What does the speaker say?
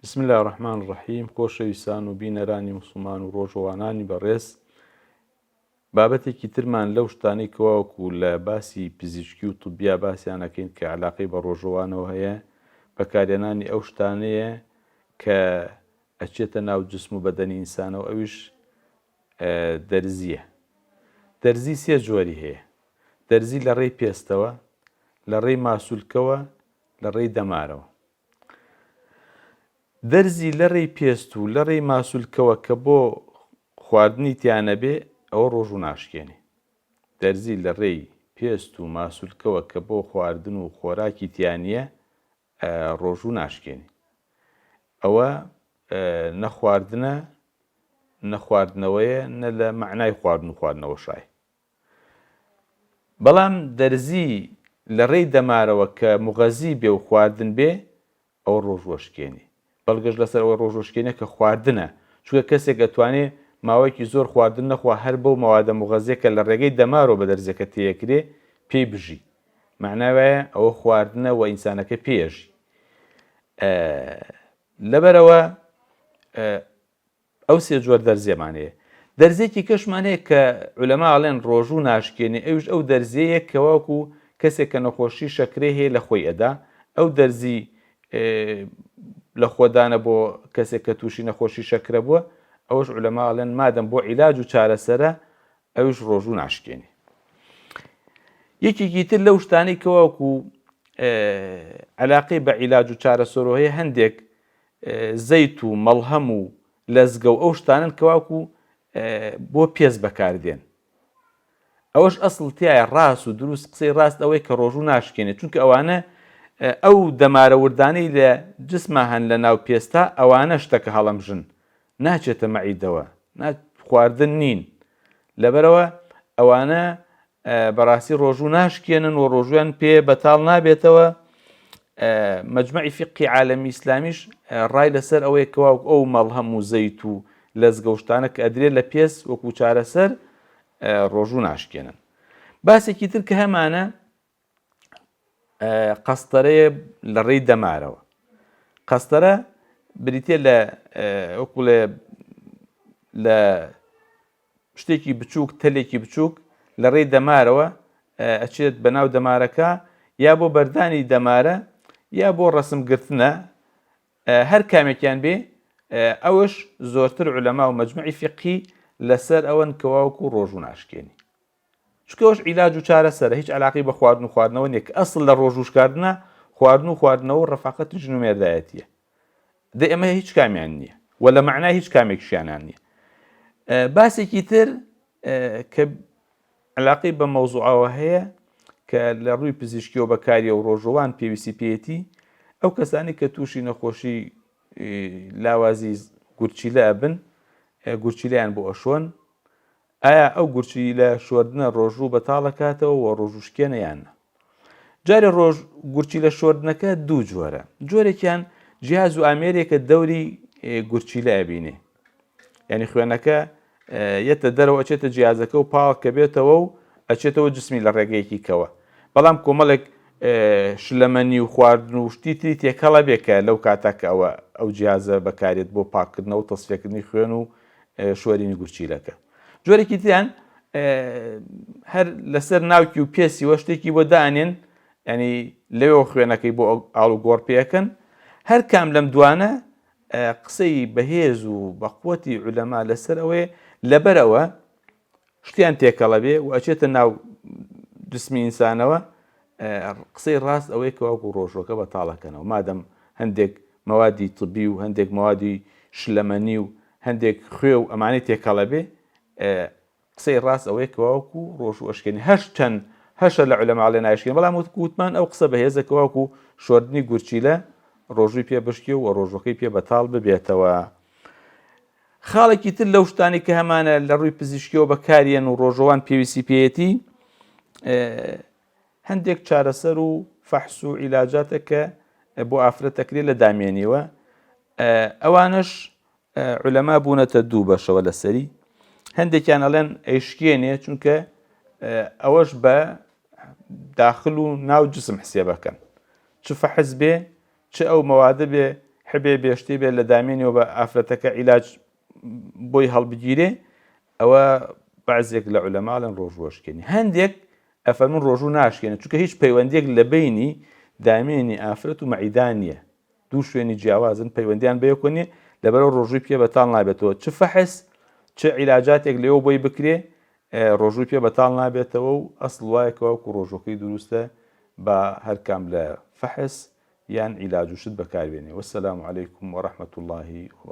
بسم اللە الرحمن الرحیم خۆشەویستان و بینەرانی موسڵمان و ڕۆژەوانانی بەڕێز بابەتێکی ترمان لەو شتانەی کەواوەکو لە باسی پزیشکی و طبیا باسیانەکەین کە علاقەی بە ڕۆژەوانەوە هەیە بەکارێنانی ئەو شتانەیە کە ئەچێتە ناو جسم و بەدەنی ئینسانەوە ئەویش دەرزیە دەرزی سێ جۆری هەیە دەرزی لە ڕێی پێستەوە لە ڕێی ماسولکەوە لە ڕێی دەمارەوە دەرزی لەڕێی پێست و لەڕێی ماسولکەوە کە بۆ خواردنی تیا نەبێ ئەوە ڕۆژوو ناشکێنێ. دەرزی لەڕێی پێست و ماسولکەوە کە بۆ خواردن و خۆراکی تیا نییە ڕۆژوو ناشکێنێ. ئەوە نە خواردنە نە خواردنەوەیە نە لە مەعنای خواردن و خواردنەوە شایە. بەڵام دەرزی لە ڕێی دەمارەوە کە مغەزی بێ و خواردن بێ ئەوە ڕۆژ وەشکێنی بەڵگەش لەسەر ئەوەی ڕۆژ وەشکێنە کە خواردنە چونکە کەسێک ئەتوانێ ماوەیەکی زۆر خواردن نەخوا هەر بەو مەوادە مغەزیە کە لە ڕێگەی دەمارەوە بە دەرزیەکە تێیەکرێ پێی بژی مەعنای وایە ئەوە خواردنە و ئینسانەکە پێیەژی لەبەرەوە ئەو سێ جۆر دەرزیەمان هەیە. دەرزیەکی کەشمان هەیە کە علەما ئەڵێن ڕۆژوو ناشکێنێ ئەویش ئەو دەرزیەیە کە وەکو کەسێک کە نەخۆشی شەکرەی هەیە لە خۆی ئەدا ئەو دەرزی لە خۆدانە بۆ کەسێک کە تووشی نەخۆشی شەکرە بووە ئەوش علەما ئەڵێن مادەم بۆ عیلاج و چارەسەرە ئەوش ڕۆژوو ناشکێنێ یەکێکی تر لەو شتانەی کەواوکو علاقەی بە عیلاج و چارەسەرۆ هەیە هەندێک زەیت و مەڵهەم و لەزگە و ئەو شتانەن کە واکو بۆ پێست بەکار دێن ئەوەش ئەسڵ تیایە ڕاست و دروست قسەی ڕاست ئەوەی کە ڕۆژوو ناشکێنێ چونکە ئەوانە ئەو دەمارە وردانەی لە جسما هەن لە ناو پێستا ئەوانە شتەکە هەڵەمژن ناچێتە مەعیدەوە نا خواردن نین لەبەرەوە ئەوانە بەڕاستی ڕۆژوو ناشکێنن و ڕۆژویان پێ بەتاڵ نابێتەوە مجمعی فقی عالمی ئیسلامیش ڕای لەسەر ئەوەیە کەواوک ئەو مەڵهەم و زەیت و لەزگەوشتانە کە ئەدرێت لە پێس وەکو چارەسەر ڕۆژوو ناشکێنن باسێکی تر کە هەمانە قەستەرەیە لە ڕێی دەمارەوە قەستەرە بریتە لە ئۆکوڵێ لە شتێکی بچووک تەلێکی بچووک لە ڕێی دەمارەوە ئەچێت بە ناو دەمارەکە یا بۆ بەردانی دەمارە یا بۆ ڕسم گرتنە هەر کامێکیان بێ ئەوش زۆرتر علەما و مجموعی فقی لەسەر ئەوەن کەواوکو ڕۆژوو ناشکێنی چونکە ئەوش عیلاج و چارەسەرە هیچ علاقی بە خواردن و خواردنەوە نیە کە ئەسڵ لە ڕۆژوشکاردنە خواردن و خواردنەوە و ڕفاقەتی ژن و مێردایەتیە دە ئەمە هیچ کامیان نییە و لە معنای هیچ کامێکشیانان نییە باسێکی تر کە علاقی بە مەوزوعەوە هەیە کە لە ڕووی پزیشکیەوە بەکاریە و ڕۆژوان پێویستی پێێتی ئەو کەسانی کە تووشی نەخۆشی لاوازی گورچیلە ئەبن گورچیلیان بۆ ئەشۆن ئایا ئەو گورچیلە شۆردنە ڕۆژوو بەتاڵ ئەکاتەوە و ڕۆژوو شکێنە یان نا؟ جارێ ڕۆژ گورچیلە شۆردنەکە دوو جۆرە، جۆرێکیان جیاز و ئامێرێکە دەوری گورچیلە ئەبینێ یعنی خوێنەکە یەتە دەرەوە ئەچێتە جیازەکە و پاڵ کە بێتەوە و ئەچێتەوە جسمی لە ڕێگەیەکی کەوە بەڵام کۆمەڵێک شلەمەنی و خواردن و شتی تری تێکەڵە بێکە لەو کاتاکە ئەوە ئەو جیازە بەکارێت بۆ پاکردنەوە تەسفێکردنی خوێن و شۆرینی گورچیلەکە جۆرێکی تریان هەر لەسەر ناوکی و پێسی وە شتێکی بۆ دانێن ینی لەوێ خوێنەکەی بۆ ئاڵ و گۆڕ پێەکەن هەر کام لەم دوانە قسەی بەهێز و بەقوەتی علەما لەسەر ئەوەیە لەبەرەوە شتیان تێکەڵە بێ و ئەچێتە ناو جسمی ئینسانەوە قسەی ڕاست ئەوەیە کەواکو ڕۆژۆکە بە تاڵەکەنەوە مادەم هەندێک مەوادی طبی و هەندێک مەوادی شلەمەنی و هەندێک خوێ و ئەمانەی تێکەڵە بێ قسەی ڕاست ئەوەیە کەواکو ڕۆژ و ئەشکێنی هەش چەند هەشە لە علەماڵێ ناشکێن بەڵام وتکووتمان ئەو قسە بەهێزە کەواکو شۆردنی گورچیلە ڕۆژووی پێ بشکی و ڕۆژەکەی پێ بەتاڵ ببێتەوە خاڵێکی تر لەو شتانەی کە هەمانە لە ڕووی پزیشکیەوە بەکاریان و ڕۆژەوان پێویستی پێیەتی هەندێک چارەسەر و فەحس و عیلاجاتە کە بۆ ئافرەتەکرێ لە دامێنیەوە ئەوانش علەما بوونەتە دوو بەشەوە لەسەری هەندێکیان ئەڵێن ئەیشکێنێ چونکە ئەوەش بە داخل و ناو جسم حسێبەکەن چ فەحز بێ چ ئەو مەوادە بێ حبێ بێ شتێ بێ لە دامێنیەوە بە ئافرەتەکە عیلاج بۆی هەڵبگیرێ ئەوە بەعزێک لە عولەماڵن ڕۆژ ڕۆژکێنی هەندێک ئەفەرمون ڕۆژوو ناشکێنە چونکە هیچ پەیوەندێک لە بینی دامێنی ئافرەت و مەعیدا نییە دوو شوێنی جیاوازن پەیوەندیان بەیەکۆنی لەبەرەوە ڕۆژووی پێ بەتاڵ نابێتەوە چ فەحس چ عیلاجاتێک لێەوە بۆی بکرێ ڕۆژووی پێ بەتاڵ نابێتەوە و ئەسڵ وایە کە وەکو ڕۆژووەکەی دروستە با هەر کام لە فەحس یان عیلاج و شت بەکار بێنێ وەسەلام علیکم وەڕەحمەتوڵڵاهی وەبەڕەکاتوو.